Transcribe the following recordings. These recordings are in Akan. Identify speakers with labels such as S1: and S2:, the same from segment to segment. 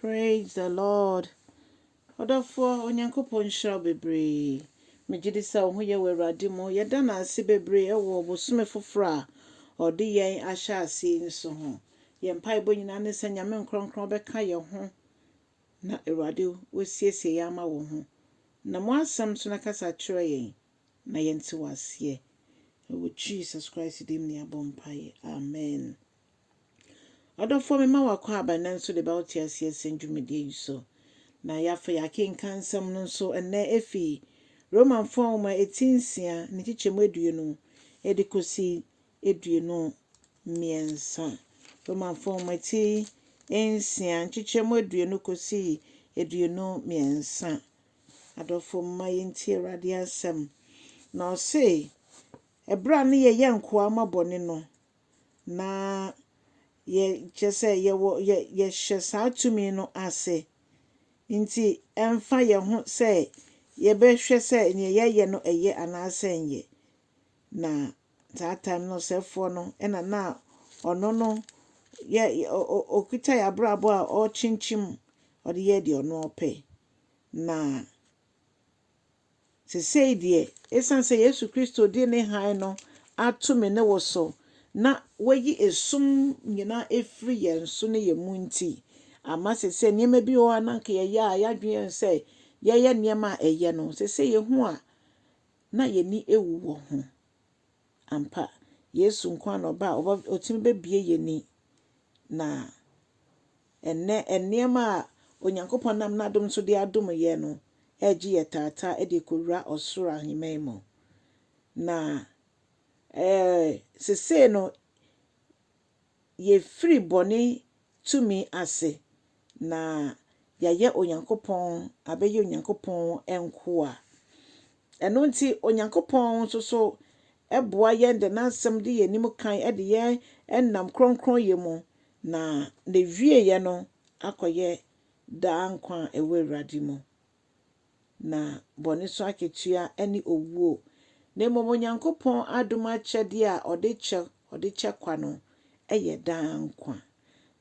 S1: Praise the Lord ɔdɔfoɔ Onyankopɔn nhyira wo bebree megye di sɛ wo ho yɛ wɔ Awurade mu yɛda no ase bebree ɛwɔ ɔbosome foforɔ a ɔde yɛn ahyɛ aseɛ yi nso ho yɛn mpaebɔ nyinaa ne sɛ Nyame nkorɔnkorɔn bɛka yɛn ho na Awurade wasiesie yɛn ama wo ho na mo asɛm nso na kasa kyerɛ yɛn na yɛn te wo aseɛ ɛwɔ Jesus Christ dim ne abɔ mpaeɛ amen. Ɔdɔfoɔ mema wo akwaaba nnɛ nso de bɛwo teaseɛ sɛn dwumadie yi so. Na yɛafa yɛakenkan nsɛm no nso nnɛ ɛfi Romanfoɔ nwoma ɛti nsia ne nkyekyɛmu aduonu de kɔsi aduonu mmiɛnsa. Romanfoɔ nwoma ɛti nsia nkyekyɛmu aduonu kɔsi aduonu mmiɛnsa. Adɔfoɔ mma yɛntie Awurade asɛm. Na ɔse, ɛberɛ a ne yɛyɛ nkoa ma bɔne no, na yɛ, kyerɛ sɛ yɛwɔ, yɛ, yɛhyɛ saa tumi no ase. Enti ɛmfa yɛn ho sɛ yɛbɛhwɛ sɛ nea yɛyɛ no ɛyɛ anaasɛ ɛnyɛ. Na saa time no ɔsɛefoɔ no ɛna na ɔno no yɛ, ɔ, ɔ, ɔkuta yɛn abrabɔ a ɔrekyinkyim, ɔde yɛ deɛ ɔno ɔpɛ. Na. Seesei deɛ, esiane sɛ Yesu Kristo de ne hann no ato me ne wo so, na wayi esum nyinaa afiri yɛn so ne yɛn mu nti, ama seesei nneɛma bi wɔ hɔ a na anka yɛyɛ a yɛadwene yɛn ho sɛ yɛyɛ nneɛma a ɛyɛ no, seesei yehu a na yɛn ani awu wɔ ho. Ampa, Yesu nko ara na ɔba a ɔba, ɔtumi bɛbue yɛn ani, na. Ɛnnɛ, nneɛma a Onyankopɔn nam n'adom so de adom yɛn no regye yɛn taataa de rekɔwura ɔsoro ahemman mu. Na eh, seesei no, yɛafiri bɔne tumi ase, na yɛayɛ Onyankopɔn, abɛyɛ Onyankopɔn nkoa. Ɛno nti, Onyankopɔn nso so boa yɛn de n'asɛm di yɛn anim kan de yɛn nam kronkronyɛ mu Na n'awieɛ no akɔyɛ daa nkwa a ɛwɔ Awurade mu, na bɔne so akatua ne owuo. Na mmom Onyankopɔn adom akyɛdeɛ a ɔde kyɛ ɔde kyɛ kwa no yɛ daa nkwa.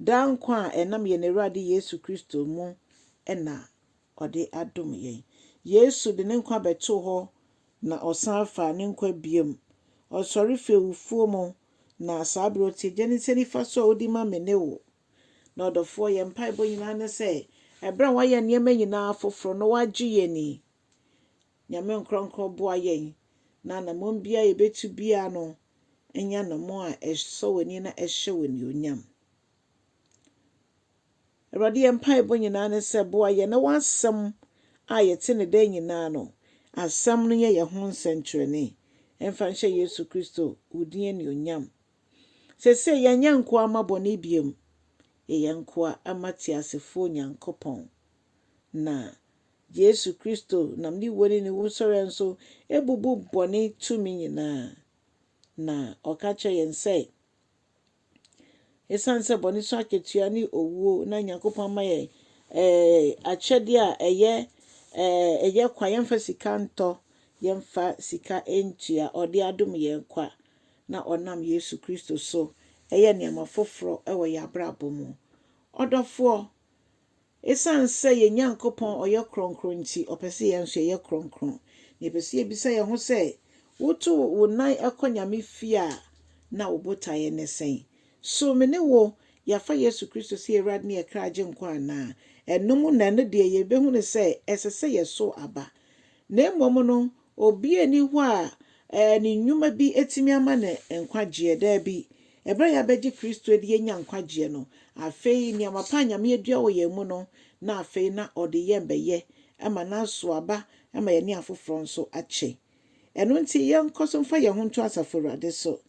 S1: Daa nkwa a ɛnam yɛn Awurade Yesu Kristo mu na ɔde adom yɛn. Yesu de ne nkwa bɛtoo hɔ na ɔsan faa ne nkwa bio. Ɔsɔre fii awufoɔ mu, na saa berɛ ɔte Agya no nsa nifa so a ɔdi ma me ne wo. Na ɔdɔfoɔ, yɛn mpaebɔ nyinaa ne sɛ, ɛberɛ a wayɛ nneɛma nyinaa foforɔ na wagye yɛn yi, Nyame Nkorɔnkorɔn boa yɛn na anammɔn biara a yɛbɛtu biara no nyɛ anammɔn a ɛsɔ w'ani na ɛhyɛ wo animuonyam. Awurade, yɛn mpaebɔ nyinaa ne sɛ boa yɛn na w'asɛm a yɛte no daa nyinaa no, asɛm no nyɛ yɛn ho nsɛnkyerɛnne, ɛmfa nhyɛ Yesu Kristo wo din anuonyam. Seesei yɛnyɛ nkoa mma bɔne biom, yɛyɛ nkoa mma teasefoɔ Onyankopɔn. Na Yesu Kristo nam ne wuo ne ne wusɔreɛ nso bubu bɔne tumi nyinaa. Na ɔka kyerɛ yɛn sɛ, Esiane sɛ bɔne so akatua ne owuo na Nyankopɔn ama yɛn eh, akyɛdeɛ a ɛyɛ eh, ɛyɛ kwa, yɛmfa sika ntɔ, yɛmfa sika ntua, ɔde adom yɛn kwa, na ɔnam Yesu Kristo so ɛyɛ nneɛma foforɔ wɔ yɛn abrabɔ mu. Ɔdɔfoɔ, Esiane sɛ yɛn Nyankopɔn ɔyɛ kronkron nti, ɔpɛ sɛ yɛn nso yɛyɛ kronkron. Na yɛpɛ sɛ yebisa yɛn ho sɛ, 'Woto wo nan kɔ Nyame fie a, na wo botaeɛ ne sɛn? So me ne wo, yɛafa Yesu Kristo sɛ yɛn Awurade ne yɛn kra Agyenkwa anaa? Ɛno mu na ɛno deɛ yɛbɛhunu sɛ ɛsɛ sɛ yɛsow aba. Na mmom no, Obi nni hɔ a ne nnwuma bi tumi ama no nkwagyeɛ. Daabi. Ɛberɛ a yɛabɛgye Kristo adi yɛnya nkwagyeɛ no, afei nneɛma pa a Nyame adua wɔ yɛn mu no na afei na ɔde yɛn bɛyɛ ma no aso aba ma yɛne afoforɔ nso akyɛ. Ɛno nti yɛnkɔ so mfa yɛn ho nto Asafo Awurade so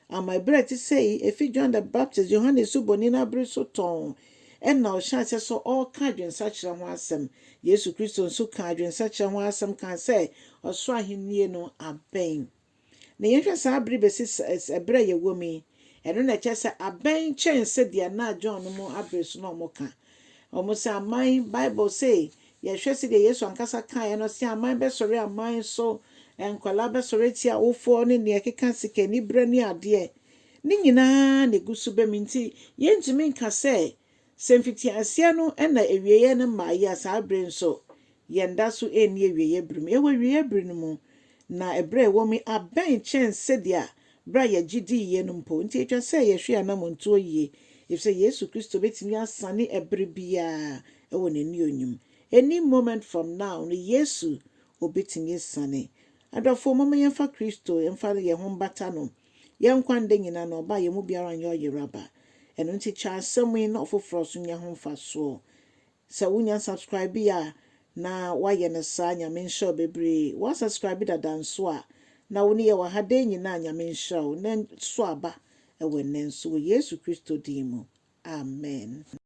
S1: Ama bere a ɛte sɛɛ yi, efi John the Baptist, Yohane Osuboni, no abere so tɔnn na ɔhyɛɛ aseɛ sɛ ɔreka adwensakyera ho asɛm. Yesu Kristo nso kaa adwensakyera ho asɛm kaa sɛ ɔsoro ahennie no abɛn. Na yɛnhwɛ saa bere bɛsi ɛberɛ a yɛwɔ mu yi, ɛno na ɛkyerɛ sɛ abɛn kyɛn sɛdeɛ na John no mu abere so na wɔka. Wɔn sɛ aman, Bible se Yɛhwɛ sɛdeɛ Yesu ankasa kaeɛ no, ɔse, Aman bɛsɔre aman so, nkwadaa bɛsɔre atia awofoɔ, ne deɛ ɛkeka sikaniberɛ ne adeɛ, ne nyina ara na ɛgu so ba mu. Nti yɛntumi nka sɛ, sɛ mfitiaseɛ no na awieɛ no mmaeɛ a, saa berɛ yi nso yɛn da so nni awieɛ berɛ mu. Yɛwɔ awieɛ berɛ no mu, na ɛberɛ a yɛwɔ mu yi abɛn kyɛn sɛdeɛ bere a yɛgye dii yɛ no mpo. Enti etwa sɛ yɛhwɛ anamɔntuo yie, efisɛ Yesu Kristo bɛtumi asane ɛbere biara wɔ N'annuonyum. Any moment from now no Yesu ɔbɛtumi asiane. Adɔfoɔ, momma yɛmfa Kristo mfa yɛn ho mbata No. Yɛn nkwa nda nyinaa no Ɔba a yɛn mu biara nyɛ ɔyeraba. Ɛno nti kyɛ asɛm yi na ɔfoforɔ nso nya ho mfasoɔ. Sɛ wo nya subscribe yɛ a na wa yɛ no saa nyame nhyira wo bebree wa subscribe dada nso a na wo ne yɛ wɔ ha dɛn nyinaa nyame nhyira wo na so aba ɛwɔ ɛnɛ nso wɔ yesu kristo din mu amen.